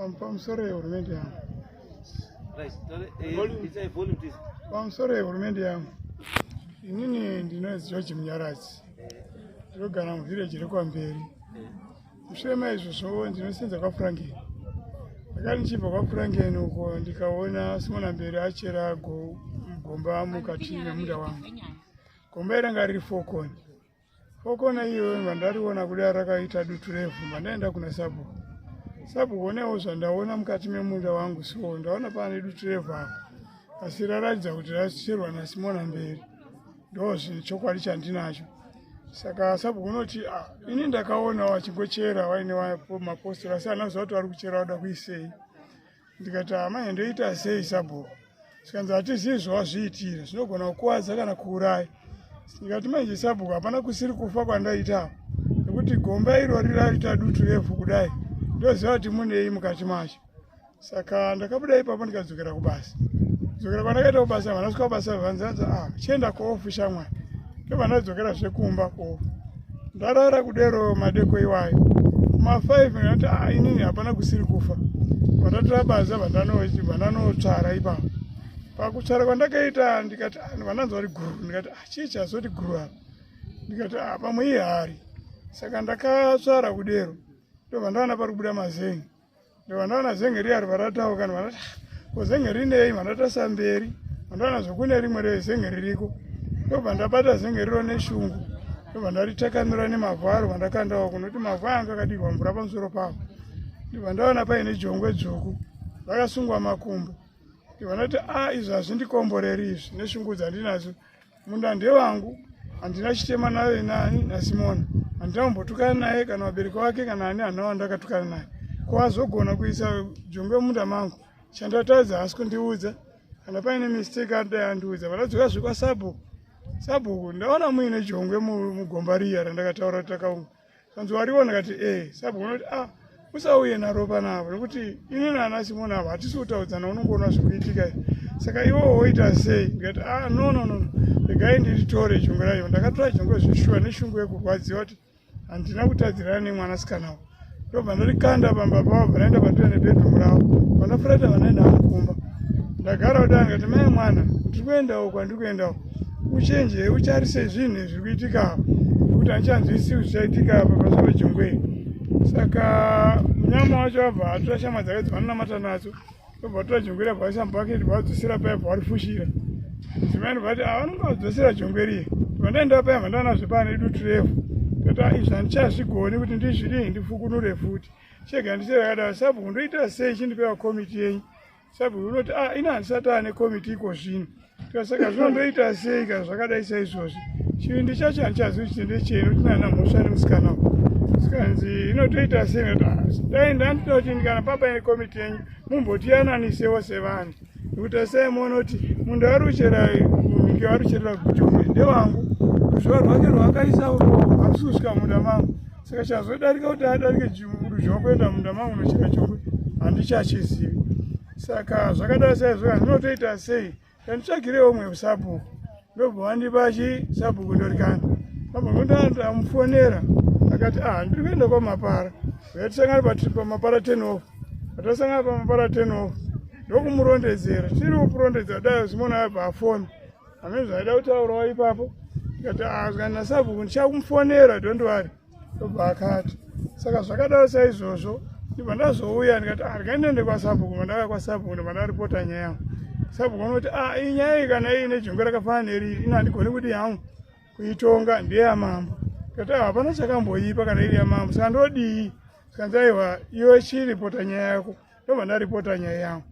I'm from sorry, or maybe I'm. Right, sorry, eh, volume. It's a volume, please. I'm sorry, or maybe I'm. Inini ndinozi George Munyaradzi. Ndinogara muvillage rekwamberi. Mushure maizvozvo ndinosenza kwaFrankie. Ndakati ndichibva kwaFrankie uko ndikaona Simona Mberi achera gomba mukati memunda wangu. Gomba iranga riri fokoni. Okona iyoyo mandariona kuda rakaita dutu revhu mandaenda kuna sabu sabu onewo zvandaona mukati memunda wangu so ndaona pane dutu revhu apo asi raratidza kuti rasicherwa nasimona mberi ndo zvinhu chokwadi chandinacho saka sabu unoti ah, ini ndakaona wachingochera waine mapostori asi anaziva kuti vari kuchera wada kuisei ndikati amai ndoita sei sabhuku zvikanzi hatizivi zvawazviitira zvinogona kukuvadza kana kuuraya ndikati manje sabhuku hapana kusiri kufa kwandaitawo nekuti gomba irori raita dutu revhu kudai ndoziva kuti munei mukati macho saka ndakabuda ipapo ndikadzokera kubasa dzokera kwandakaita kubasa vanasvika kubasa vanzanza a ah, chienda koofu shamwari ndovanadzokera zvekumba koofu ndarara kudero madeko iwayo kuma 5 ngati ah, inini hapana kusiri kufa vatatora baza vandanotsvara ipapo pakutsvara kwandakaita ndikati ah, vananzi vari guru ndikati ah, chii chazoti guru apa ndikati pamwe ihari saka ndakatsvara kudero ndovandaona pari kubuda mazengi ndovanaona zenge riya rivaratawo kana vanati ah, ko zenge rinei vanatasa mberi vandoona zvokune rimwe rezenge ririko ndobva ndabata zenge riro neshungu ndobva ndaritakanura nemavhu aro vandakandawo kunoti mavhu aya anga akadirwa mvura pamusoro pavo ndibva ndaona paine jongwe dzvuku rakasungwa makumbo ndibva ndati a ah, izvi hazvindikomboreri izvi neshungu dzandinadzo munda ndewangu handina chitema naye nani nasimona handina kumbotukana naye kana vabereki wake kana ani hana wandakatukana naye ko azogona kuisa jongwe munda mangu chandatadza haasi kundiudza kana paine mistake adai andiudza vanadzoka zvekwasabhuku sabhuku ndaona muine jongwe mugomba riya randakataura takaunga Hanzi wariona kati eh sabu unoti ah usauye naropa navo nekuti ini nana simoni avo hatisi kutaudzana unongoona zvikuitika saka iwo woita sei ndikati a ah, no no no regai ndiritore chungu rayo ndakatora chungu zveshuwa neshungu yekurwadziwa kuti handina kutadzirana nemwanasikana wo ndobva ndarikanda pamba pavo varaenda patoya nebedroom ravo vandafurata vanaenda vamukumba ndagara kuti angati mai mwana ndiri kuendawo kwandiri kuendawo uchenje utarise zvinhu zviri kuitika apa nekuti hanchanzwisi kuti chaitika apa pazvava jongwe saka munyama wacho abva atora shama dzake dzavanonamata nadzo obva atora jongwe ri abva aisa mubhaketi bvaadzosera paya bva varifushira zimani vati avanonga ah, vadzosera jongwe riye vandaenda paya vandanazve pane idu turefu tata izvi handichazvigoni kuti ndizvidii ndifukunure futi chega ndisevakadaro sabhuku ndoita sei chindipewa komiti yenyu sabhuku unoti a ah, ina handisati ane komiti iko zvino tikasaka zvino ndoita sei kana zvakadai saizvozvi chivindi chacho handichazivi kuti ndechei noti nana mhosva nemusikana uku sikanzi inotoita sei noti ah, dai ndandida kuti ndikana papa ine komiti yenyu mumbotiyananisewo sevanhu nekuti asai monoti munhu aruchera munhu arucherera kuti umwe ndewangu ruzviva rwake rwakaisa uko harusi kusvika munda mangu saka chazodarika kuti adarike chiruzha wakuenda munda mangu nocheka chokwe handichachizivi saka zvakadai saizvoka ndinotoita sei kanditsvagire umwe sabhuku ndobva wandipa chi sabhuku ndorikana abva ndotandamufonera akati ah ndiri kuenda kwamapara yatisangana pamapara ten off atasangana pamapara ten off ndokumurondedzera tiri kukurondedzera dai zimona abva afoni Hameno zvaida kutaurawo ipapo ndikati azwa ah, nasabhuku ndichakumufonera don't worry ndobva akati saka zvakadaro saizvozvo ndibva ndazouya ndikati ah, andika ndiende kwasabhuku mandauya kwasabhuku ndibva ndaripota nyaya yangu sabhuku vanoti a ah, iyi nyaya iyi kana iyi nejungu rakafanana neriri ino handigoni kuti yangu kuitonga ndeyamambo ndikati hapana chakamboipa kana iri yamambo saka ndodii saka ndaiwa iwe chiripota nyaya yako ndobva ndaripota nyaya yangu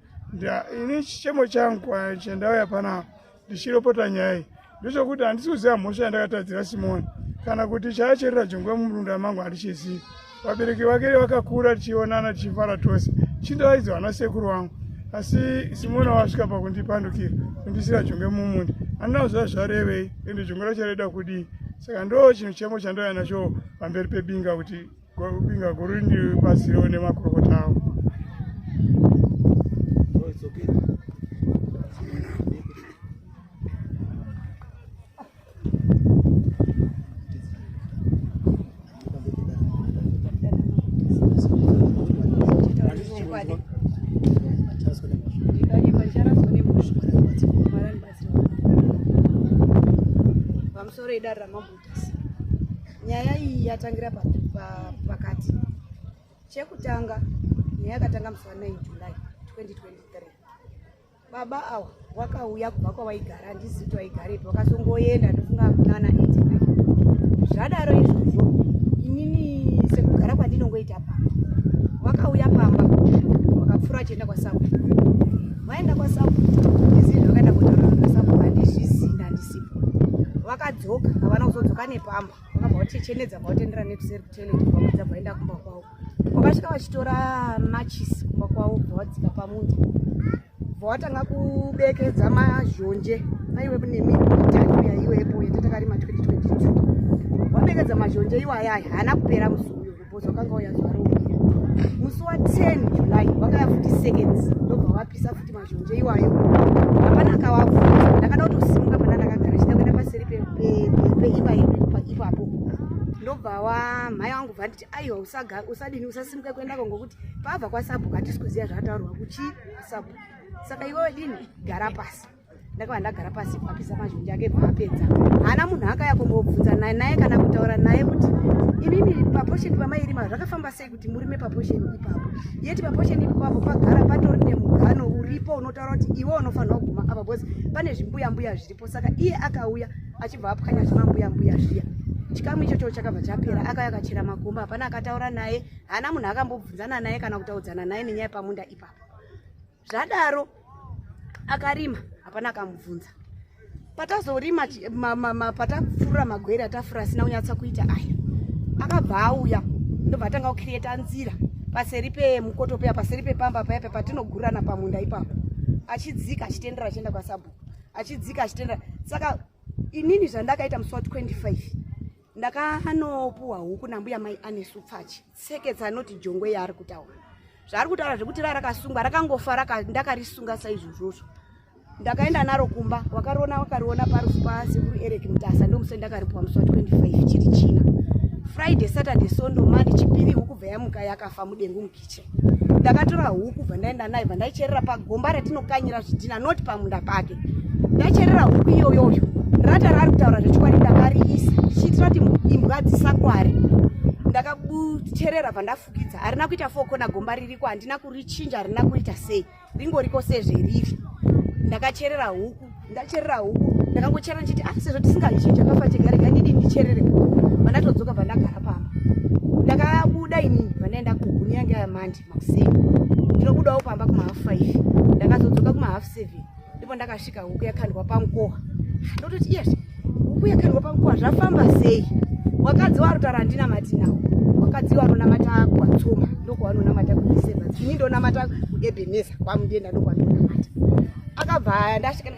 ini chichemo changu ah, chandauya panaa ndichiropota nyaya iyi ndechokuti handisi kuziva mhosva yandakatadzira simoni kana kuti chaacherera jongwe mumurunda mangu handichizivi vabereki vake vakakura tichionana tichifara tose chindaraidzi vana sekuru vangu asi simoni wasvika pakundipandukira kundisira jongwe mumunda handinawo zva zvarevei ende jongwe racho raida kudii saka ndo chinhu chemo chandauya nacho pamberi pebinga kuti Kubinga kuri ndi basi reo nemakurukota avo. nyaya iyi yatangira pakati chekutanga nyaya yakatanga musi wa 9 july 2023 baba awa wakauya kubva kwawaigara handizivi kuti waigarepi wakazongoenda ndofunga mwana 89 zvadaro izvozvo inini sekugara kwandinongoita pamba wakauya pamba wakapfuura achienda kwasabu waenda kwasabu vakadzoka havana kuzodzoka nepamba vakabva vachichenedza bva vatendera nekuseri kutoilet vakudza bvaenda kumba kwavo vakasvika vachitora machisi kumba kwavo bva vadzika pamuti bva vatanga kubekedza mazhonje aiwe kunemi itaiwe yaiwepo yatatakari ma 2022 vabekedza mazhonje iwayaya haana kupera musi Bozo kanga uya zuva rouya musi wa 10 July wakaya futi seconds ndobva wapisa futi mazhonje iwayo hapana akawavhura ndakada kutosimuka pana ndakagara chida kuenda paseri peimba yedu ipapo ndobva wamhai wangu bva nditi aiwa usadini usasimuka kuendako ngokuti pabva kwasabuka hatisi kuziva zvataurwa kuchii sabu saka iwewe dini gara pasi ndakava ndagara pasi apisa mazhinji ake bvaapedza haana munhu akaya kumbobvunza naye naye kana kutaura naye kuti imimi paposheni pamairima zvakafamba sei kuti murime paposheni ipapo yeti paposheni ipapo pagara patori nemugano uripo unotaura kuti iwe unofanira kuguma apa bcause pane zvimbuya mbuya zviripo saka iye akauya achibva apwanya zvimambuya mbuya zviya chikamu ichocho chakabva chapera akauya akachera makumba hapana akataura naye haana munhu akambobvunzana naye kana kutaudzana naye nenyaya pamunda ipapo zvadaro akarima hapana akamubvunza patazorima patafurura magwere atafura asina kunyatsa kuita aya akabva auya ndobva atanga kucreata nzira paseri pemukoto peya paseri pepamba paya pe patinogurana pamunda ipapo achidzika achitendera achienda kwasabhuku achidzika achitendera saka inini zvandakaita musi wa 25 ndakanopuwa huku nambuya mai anesu pfachi tseketsa anoti jongwe yaari kutaura zvaari kutaura zvekuti ra rakasungwa rakangofa raka ndakarisunga saizvozvozvo ndakaenda naro kumba wakariona wakariona parufu pasekuru eric mutasa ndomusai ndakaripuwa musi wa 25 chiri china friday saturday sondo mani chipiri hukubva yamuka yakafa mudengu mukichen ndakatora huku kubva ndaenda naye bva ndaicherera pagomba ratinokanyira zvidhina not pamunda pake ndacherera huku iyoyoyo rata raari kutaura zvechikwari ndakariisa ndichiitira kuti imbwa dzisakwari ndakabucherera bva ndafukidza harina kuita fokona gomba ririko handina kurichinja harina kuita sei ringoriko sezveriri ndakacherera huku ndacherera huku ndakangochera ndichiti ah sezvo tisingazvichinja kafa chegarega ndini ndicherere huku vandatodzoka bva ndagara pamba ndakabuda inini vandaenda kuhuni yange yamandi makuseni ndinobudawo pamba kumahafu five ndakazodzoka kumahafu seven ndipo ndakasvika huku yakandwa pankoha ndototi yes huku yakandwa pankoha zvafamba sei wakadzi waro tarandina matinawo vakadzi vanonamata kuvatsoma ndokuvanonamata kudecember ini ndonamata kuebeneza kwamudienda ndokuvanonamata akabva aya ndasvika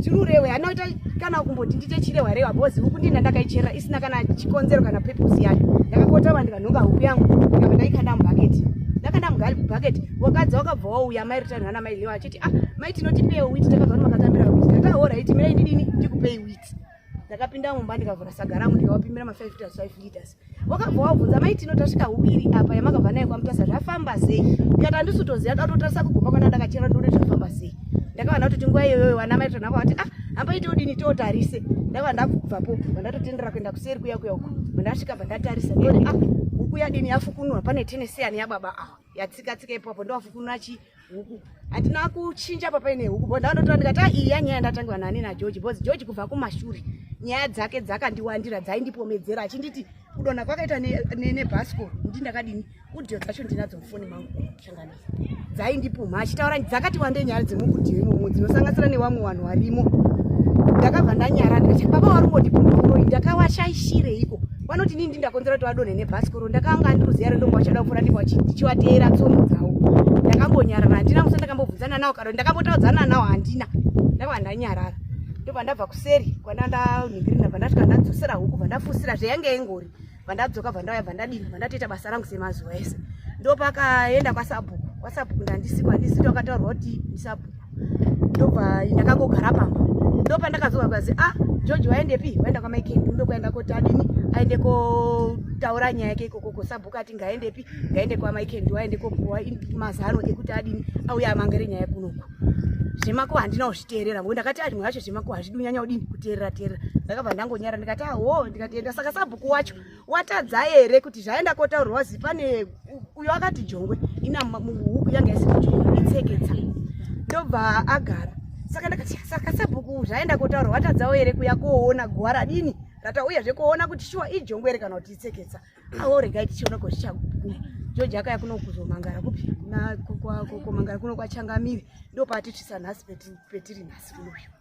chirurewe anoita kana kumboti ndiite chirewa rewa bhozi huku ndini ndandakaichera isina kana chikonzero kana pepusi yacho ndakakota vanhu vanhonga huku yangu ndikabva ndaikanda mubhaketi ndakanda mugali mubhaketi wakadzi wakabva wauya mai rita nhana mai lewa achiti ah mai tinotipei witi takabva nomakatambira witi ndakahora iti mirai ndidini ndikupei witi ndakapinda mumba ndikavhura saga rangu ndikawapimira ma5 liters 5 liters wakabva wabvunza mai tino tasvika huku iri apa yamakabva nayo kwamutasa zvafamba sei ndikati handisi kutoziva ndatotarisa kugomba kwana ndakachera ndone zvafamba sei ndakavana kutoti nguva iyoyo vana mai tona kwavati ah hamba ite udini tiotarise ndakava ndakubvapo vandatotendera kuenda kuseri kuya kuya uko vandasvika vandatarisa ndone ah huku yadini yafukunwa pane tenesiyani yababa awa yatsika tsika ipapo ndowafukunura chi huku handina kuchinja papa ine huku bo ndaondotora ndikati a iya nyaya ndatangiwa nani nageorge bcause george kubva kumashure nyaya dzake dzakandiwandira dzaindipomedzera achinditi kudona kwakaita nebasco ne, ne ndi ndakadini udio dzacho ndinadzo mufoni mangu shanganisa dzaindipumha achitaura dzakati wande nyaya dzemukudio imomo dzinosanganisira newamwe vanhu varimo ndakabva ndanyara ndikati baba wari ungondipumha uroi ndakawashaishireiko vanoti nini ndindakonzera kuti vadonhe nebhasikoro ndakanga andiruziva rendombo vachada kupfuura ndipo ndichivateera tsono dzavo ndakambonyarara handina musa ndakambobvunzana nawo karo ndakambotaudzana nawo handina ndava ndanyarara ndobva ndabva kuseri kwandanigirina bva ndasvika ndadzosera huku bva ndafusira zveyange yengori bva ndadzoka bva ndauya bva ndadini bva ndatoita basa rangu semazuva ese ndopakaenda kwasabhuku kwasabhuku ndandisikwa handisi tokataurwa kuti ndisabhuku ndobva ndakangogara pamba ndopandakazoka kazi a ah, george waendepi waenda kwamaikendi ndokuenda koti adini aende kotaura nyaya yake ikoko kosabhuku ati ngaendepi ngaende kwamaikendi waende kopuwa mazano ekuti adini auya amangere nyaya kunoku zvemako handina kuzviteerera ngo ndakati arimwe yacho zvemako hazvidi unyanya udini kuteerera teerera ndakabva ndangonyara ndikati aho ndikatienda saka sabhuku wacho watadza here kuti zvaenda kotaurwa wazi pane uyo akati jongwe ina huku yanga isikuitseketsa ndobva agara saka ndakasaka sabhuku zvaenda kotaurwa watadzawo here kuya koona guwa radini ratauya zvekuona kuti shuwa ijongwe here kana kuti itseketsa awo regai tichiona ko zvichaguma joji akaya kuno kuzomangara kupi komangara kuno kwachangamiri ndopaati tisa nhasi petiri nhasi kunoyo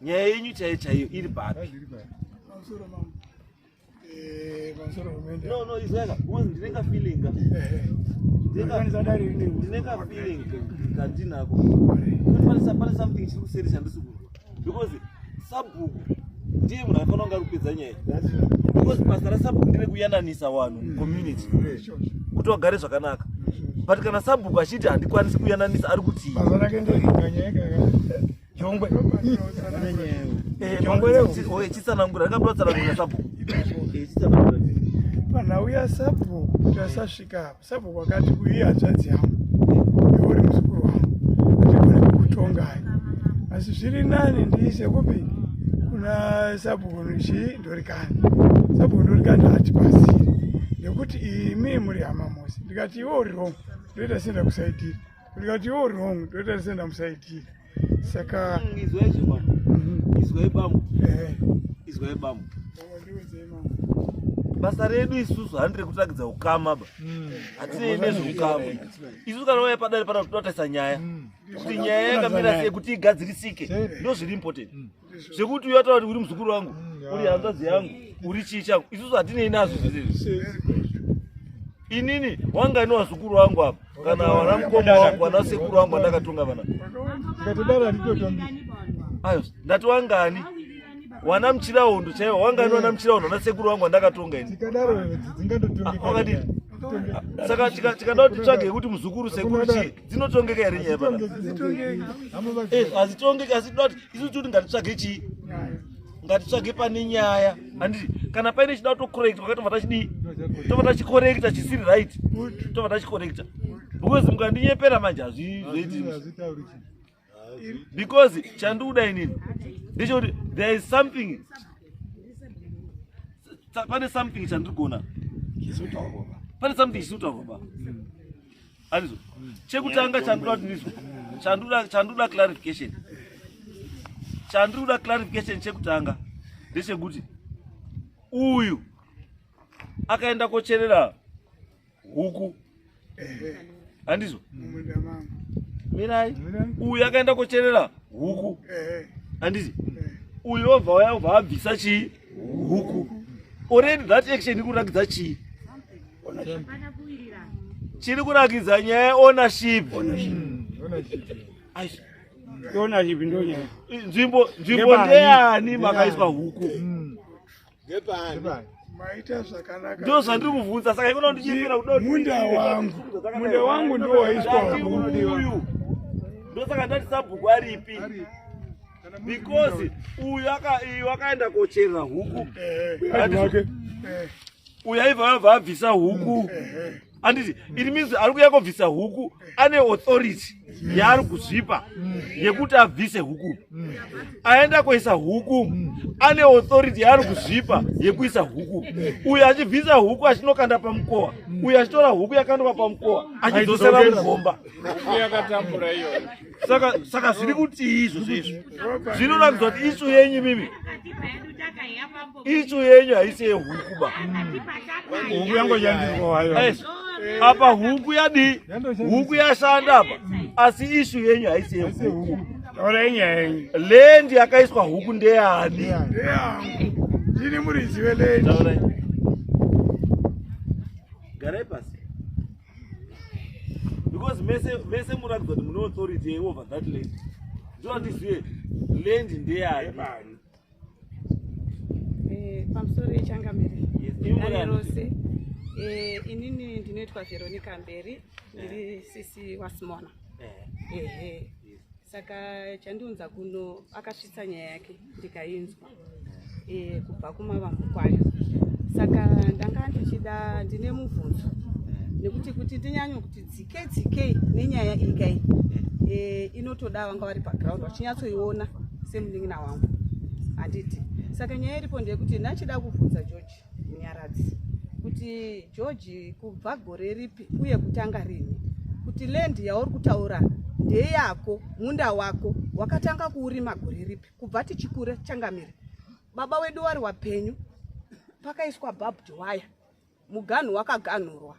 nyaya yenyu chaiyo chaiyo iri papi eh, no no izaka because ndinenga feeling eh, eh. ndinenga feeling kandinako kuti pane something chiri kuseri chandisi kunzwa because sabhuku ndiye munhu aifanira kunge ari kupedza nyaya because basa rasabhuku ndire kuyananisa vanhu mucommunity kuti vagare zvakanaka but kana sabhuku achiti handikwanisi kuyananisa ari kutii Jongwe. Eh, Jongwe leo. Oye chitsanangura rakabura tsanangura sapo. Eh, chitsanangura. Pana uya sapo tasasvika hapo. Sapo wakati kuyi hadzvadzi yangu. Iwe uri muzukuru wangu. Ndikone kutonga. Asi zviri nani ndiise kupi? Kuna sapo kunchi ndorikani. Sapo ndorikani hati pasi. Nekuti imi muri hama mose. Ndikati iwe uri wrong. Ndoita senda kusaidira. ndikati yo wrong ndoita senda musaitira saka mm, izwai zvema mhm. izwai bambo eh. izwai bambo basa redu isusu handi rekutagidza ukama ba mm. hatinei nezveukama isusu kana waya padare pana totaisa nyaya mm. kuti nyaya yakamira sei kuti igadzirisike ndozviri important zvekuti uyo ataura kuti uri muzukuru wangu mm, uri hanzvadzi yangu uri chii changu isusu hatinei nazvo zvese inini wanga ine wazukuru wangu apa kana wana mukoma wangu wana sekuru wangu andakatonga vana ayo ndati wangani wana muchirahondo chaiwo wangani wana muchirahondo ana sekuru wangu andakatonga ini wakadii saka tikada kuti tsvage yekuti muzukuru sekuru chii dzinotongeka here nyaya pana hazitongeki eh, asi tinoti isu toti ngatitsvage chii ngatitsvage pane nyaya handiti kana paine chida kutokorekta kwakatova tachidii tova tachikorekta chisiri right tova tachikorekta because mukandinyepera manje hazvizoiti because chandiuda inini ndechekuti there is something pane something chandirigona pane something chisiri kutaurwa ba anizwa chekutanga chandoda ndizwa chandoda chandoda clarification chandoda clarification chekutanga ndechekuti uyu akaenda kocherera huku handizvo mirai uyu akaenda kocherera huku handizi uyu obva waya obva abvisa chii huku already that action iri kurakidza chii chiri kurakidza nyaya yeownership nzvimbo nzvimbo ndeyani makaiswa huku hmm. ndo zvandiri kuvhunza saka ikono ndichiira kudamunda wangu munda wangu ndowaiswa uyu ndosaka ndati sabhuku aripi because uyu akaenda kocherera huku uyu aiva abva abvisa huku anditi it means ari kuya kobvisa huku ane authority yaari kuzvipa yekuti abvise huku aenda kuisa huku ane authority yaari kuzvipa yekuisa huku uyo achibvisa huku achinokanda pamukowa uyo achitora huku yakandoka pamukowa achidzosera mugomba saka saka zviri kutii izvo zvezvo zvinoratidza kuti isu yenyu mimi isu yenyu haisi yehuku ba huku yangonyandirwa wayo apa huku yadii huku yashanda apa asi isu yenyu haisi yehuku lendi yakaiswa huku ndeyani ndini murizive lendi garai pasi because mese mese muratidza kuti mune authority over that land ndoandizive land ndeyani eh, pamusoro yechangamire dare rose eh, inini ndinoitwa veronica mberi ndiri eh. sisi wasimona ehe saka chandiunza kuno akasvitsa nyaya yake ndikainzwa e, kubva kumavambo kwayo saka ndanga ndichida ndine mubvunzo nekuti kuti ndinyanye kuti dzike dzike nenyaya ikai e, eh, inotoda vanga vari paground vachinyatsoiona semunin'ina wangu handiti saka nyaya iripo ndeyekuti ndachida kubvunza george Nyaradzi kuti George kubva gore ripi uye kutanga rini kuti land yauri kutaura ndeyako munda wako wakatanga kuurima gore ripi kubva tichikure changamire baba wedu wari wapenyu pakaiswa barbed wire muganhu wakaganhurwa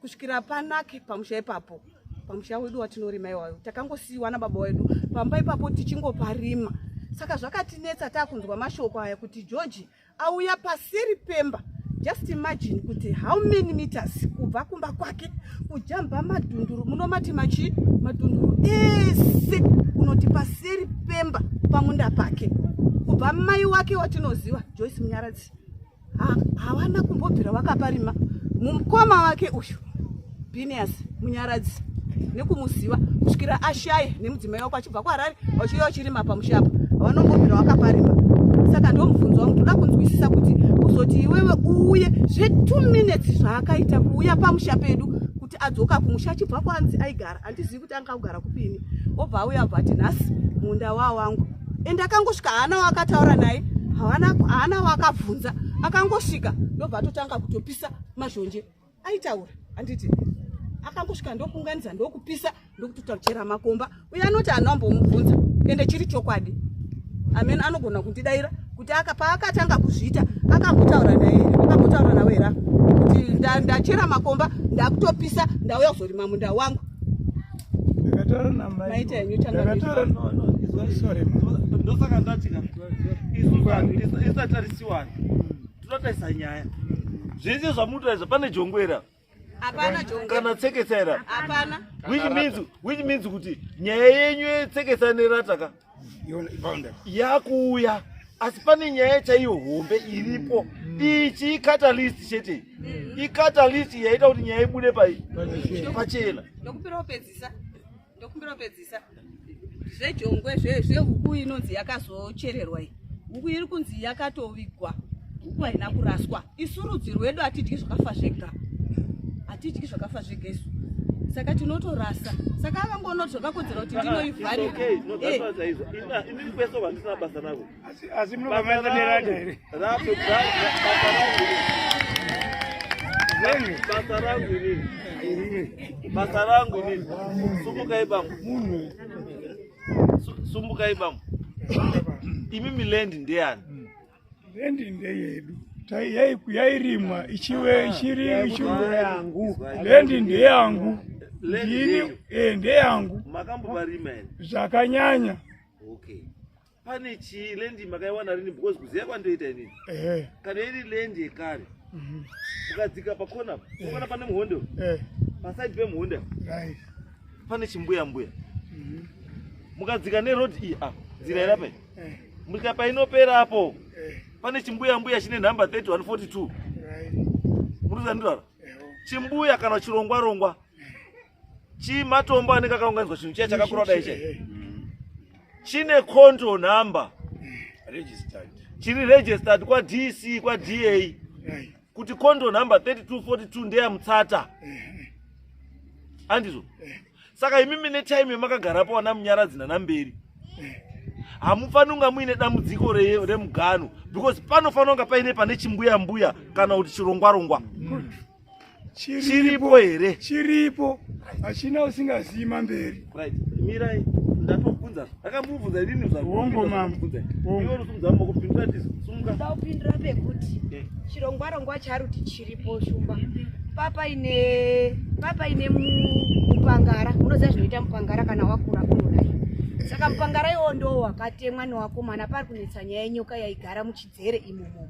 kusvikira panake pamusha ipapo pamusha wedu watinorima iwayo takangosiyiwa nababa wedu pamba ipapo tichingoparima saka zvakatinetsa takunzwa mashoko aya kuti george auya paseri pemba just imagine kuti how many meters kubva kumba kwake kujamba madhunduru munomati machi madhunduru ese kunoti paseri pemba pamunda pake kubva mai wake watinoziva joyce munyaradzi havana kumbobvira vakaparima mumukoma wake uyu binias munyaradzi nekumuziva kusvikira ashaye nemudzimai wako achibva kuharare vachiuya vachirima pamushapa havanombobvira vakaparima saka ndomubvunzo wangu toda kunzwisisa kuti kuzoti iwewe uuye zvetwo minutes zvaakaita kuuya pamusha pedu kuti adzoka kumusha achibva kwanzi aigara andizivi kuti anga kugara kupini obva auya abva ati nhasi munda waa wangu and akangosvika haana waakataura naye haana waakabvunza akangosvika ndobva atotanga kutopisa mazhonje aitaura anditi akangosvika ndokuunganidza ndokupisa ndokutotachera makomba uye anoti hana ambomubvunza ende chiri chokwadi amen anogona kundidaira kuti paakatanga kuzviita akambotaura naye akambotaura nawe hera kuti ndachera makomba ndakutopisa ndauya kuzorima munda wangu ndosaka ndatika isu vanhu isatarisiwani tinotarisa nyaya zvese zvamunotaridza pane jongwera kana tseketsaira which means kuti nyaya yenyu yetseketsa nerataka yakuuya asi pane nyaya chaiyo hombe iripo mm. ichi icatalist chete mm. icatalist yaita kuti nyaya ibude pai pachena ndokumbira upedzisa ndokumbira upedzisa zvejongwe zvehuku inonzi yakazochererwa iyi huku iri kunzi yakatovigwa huku haina kuraswa isu rudzi rwedu hatidyi zvakafa zvega hatidyi zvakafa zvega isu saka tinotorasa saka akangoona kuti zvakakodzera kuti ndinoivharibasa rangu inini sumukai bambo sumukai bambo imi milendi ndeyani Rendi ndeyedu yairimwa ichive ichiri yangu rendi ndeyangu ndini eh, ndeyangu makambovarima here zvakanyanya okay pane chii lendi makaiwana rini because kuziva kwandoita inini eh. kana iri lendi yekare mhm. ukadzika pakona eh. ukona pane muhondo pasaidi pemuhonda pane chimbuya mbuya mhm. mukadzika neroad iyi apa nzira irapai eh. mrika painopera apo eh. pane chimbuya mbuya chine nhamba 3142 muruzandirara eh, oh. chimbuya kana chirongwa rongwa chimatombo anenge akaunganidzwa chinhu chiya chakakura kudai chai eh. chine control number chiri registered kwadc kwada kuti kondo number 3242 ndeya mutsata andizvo saka imi mine time yemakagarapo wana munyaradzi nanamberi hamufanira kunga muine dambudziko remugano because panofanira kunga paine pane chimbuya mbuya kana kuti chirongwa rongwa chiripo here chiripo hachina usingazivi mamberi right mirai ndatomubvunza akamubvunza inini zvakumbunza iwe unosimudza moko pindura tizo sumuka ndaupindura pekuti eh. chirongwa rongwa charuti chiripo shumba papa ine papa ine mupangara unoziva zvinoita mupangara kana wakura kunodai saka mupangara iwo ndo wakatemwa newakomana pari kunetsa nyaya yenyoka yaigara muchidzere imomo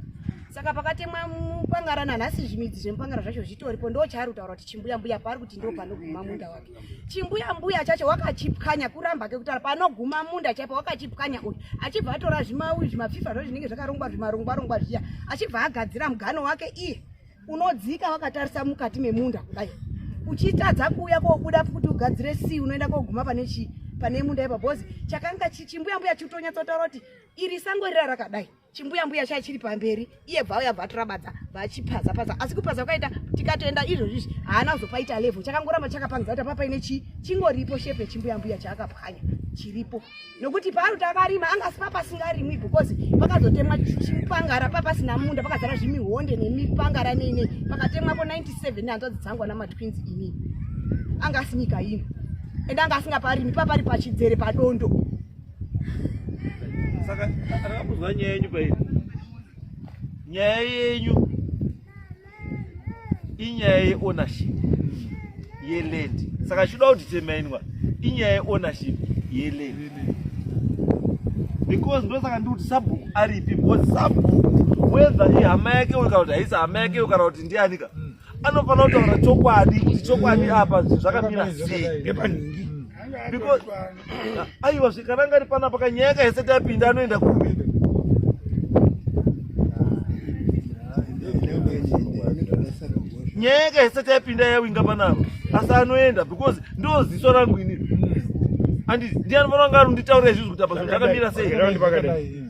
saka pakatemwa mupangara nanhasi zvimidzi zvemupangara zvacho zvitoripo ndo chaari kutaura kuti chimbuya mbuya paari kuti ndo panoguma munda wake chimbuya mbuya chacho wakachipwanya kuramba kekutara panoguma munda chaipo wakachipwanya uyu achibva atora zvimaui zvimapfifa zvo zvinenge zvakarongwa zvimarongwa rongwa zviya achibva agadzira mugano wake iye unodzika wakatarisa mukati memunda kudai uchitadza kuuya kobuda kuti ugadzire si unoenda koguma pane chii pane munda ipa bhozi chakanga chichimbuya mbuya chitonyatsotaura kuti iri sango rira rakadai chimbuya mbuya chai chiri pamberi iye bvauya bvatorabadza vachipaza paza asi kupaza kwakaita tikatoenda izvozvi izvi haana kuzopaita level chakangoramba chakapangidza kuti apa paine chii chingoripo shepe chimbuya mbuya chaakapwanya chiripo nokuti paari kuti akarima anga asi papasingarimwi because pakazotemwa chipangara papasina munda pakazara zvimihonde nemipangara neinei pakatemwapo 97 nehanzvadzi dzangu ana matwins ini anga asi nyika ino ende anga asingaparimi papari pachidzere padondo saka akamuzwa nyaya yenyu pairi nyaya yenyu inyaya yeownership yeland saka chiuda kuti temainwa inyaya yeownership yeland because ndosaka ndikuti sabhuku aripi because sabhuku whether ihama yake uyo kana kuti haisi hama yake uyo kana kuti ndianika mm. anofanira kutaura chokwadi kuti chokwadi apa zvakamira seepanhingi because aiwa zvikananga ri panapa kanyaya kahese tapinda anoenda kupi nyaya kahese tapinda yawinga panapa asi anoenda because ndo ziso rangu ini andi ndiani vanoanga arunditaura izvizvi kuti apa zvinhu zvakamira sei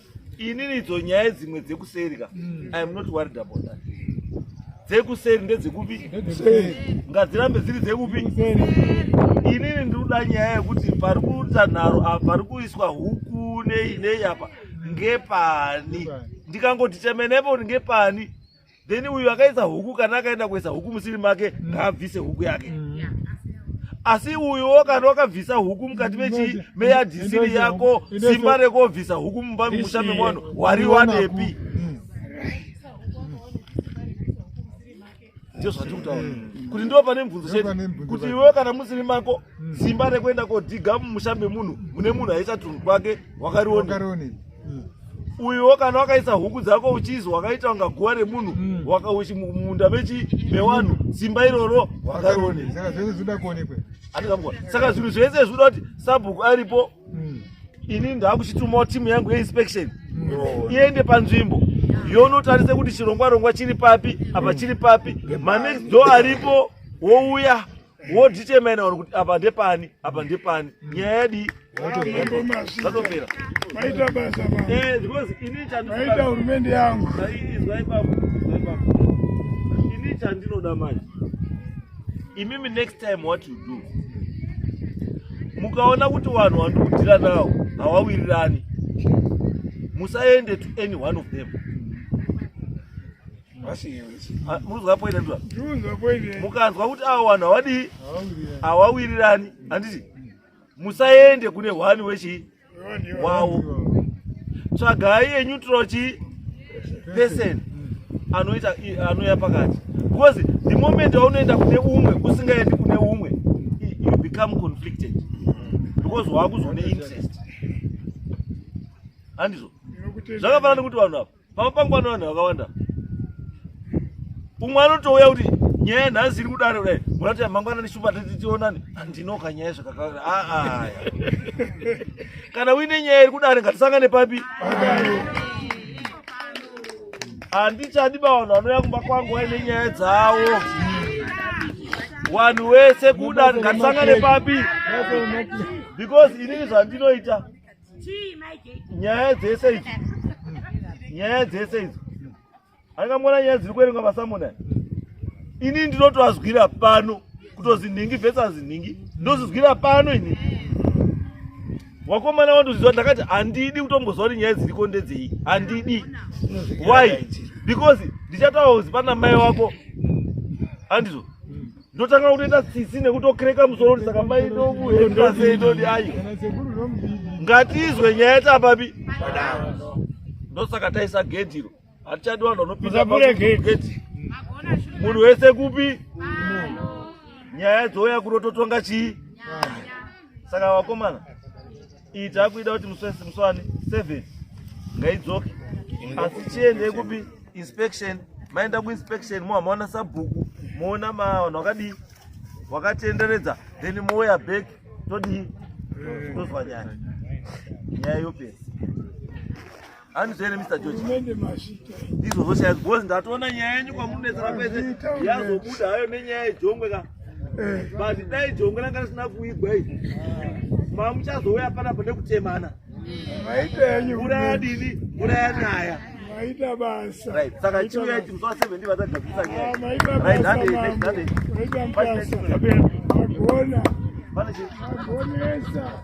inini idzo nyaya dzimwe dzekuseri ka mm. i am not worried about that dzekuseri ndedzekupi ngadzirambe dziri dzekupi inini ndinoda nyaya yekuti pari kuita nharo apa pari kuiswa huku nei nei apa ngepani ndikangoti temenepo ngepani then uyu akaisa huku kana akaenda kuisa huku musiri make mm. ngaabvise huku yake mm. asi uyuwo kana wakabvisa huku mukati mechii meyadhisiri yako simba rekobvisa huku mumba mumusha memunhu wariwanepi ndizvo zvandiri kutaura mm. kuti ndo pane mubvunzo chete kuti iwewe kana musiri mako mm. simba rekuenda kodhiga mumusha memunhu mune munhu aisa tunhu kwake wakarione uyuwo kana wakaisa huku dzako uchizi wakaita kunga guva remunhu hmm. wakauchi mumunda mechi mewanhu simba iroro wakarone saka zvinhu zvese zvinoda kuti sabhuku aripo hmm. ini ndakuchitumawo timu yangu yeinspection hmm. iende panzvimbo yonotarise kuti chirongwa rongwa chiri papi apa chiri papi manext do aripo wouya wodetermina vanhu kuti apa ndepani apa ndepani nyaya yadii zvatopera maita basa eh, maita hurumende yangu ini chandinoda manje imimi next time what you do mukaona kuti vanhu vandikudira nawo hawawirirani musaende to any one of them munzwa poine ndura mukanzwa kuti avo vanhu havadii havawirirani handiti musaende kune hwani wechii wawo tsvagai eneutral chii person anoita anouya pakati because the moment waunoenda kune umwe usingaendi kune umwe you become conflicted because waakuzone interest handizvo zvakafanana nekuti vanhu ava pamba pangu pano vanhu vakawanda umwe anotouya kuti nyaya nhasi iri kudare kudai munati mangwana neshuma titionani handinoka nyaya zvakakawanda aa ah, ah, kana uine nyaya iri kudare ngatisangane papi handichadi bavanhu vanouya kumba kwangu vaine nyaya dzavo wanhu wese kudare ngatisangane papi because inini zvandinoita nyaya dzese idzo nyaya dzese idzo angamona nyaya dziri kuerengwa masamona ini ndinotoazwira pano kutozi nhingi versus nhingi ndozizwira pano ini wakomana wandozizwa ndakati handidi kutombozwa kuti nyaya dziriko ndedzei handidi why because ndichataura kuzi pana mai wako handizvo ndotanga kutoita tsitsi nekutokreka musoro kuti saka mai ndomuhekaseitodi ayi ngatizwe nyaya tapapi ndosaka taisa gedhi iro hatichadi vanhu vanopindaegedhi munhu wese kupi nyaya dzouya kunototonga chii saka vakomana iyi takuida kuti muswesi muswani seven ngaidzoke asi chiende kupi inspection maenda kuinspection moha maona sabhuku moona vanhu wakadii wakatenderedza then mouya back todii tozwa nyaya nyaya yopesa hanzi zvere mr george mende mazvita ndizvo zvoshaya because ndatoona nyaya yenyu kwamunobetsera kwese yazobuda hayo nenyaya yejongwe ka eh. but dai jongwe ranga risina kuigwa i mamuchazouya panapa nekutemana maita yenyu mvura yadini mvura yanaya maita basa right saka chiuya ichi musi wa 7 ndi vatagadzisa nyaya ah, maita basa maita basa agona vane chi agonesa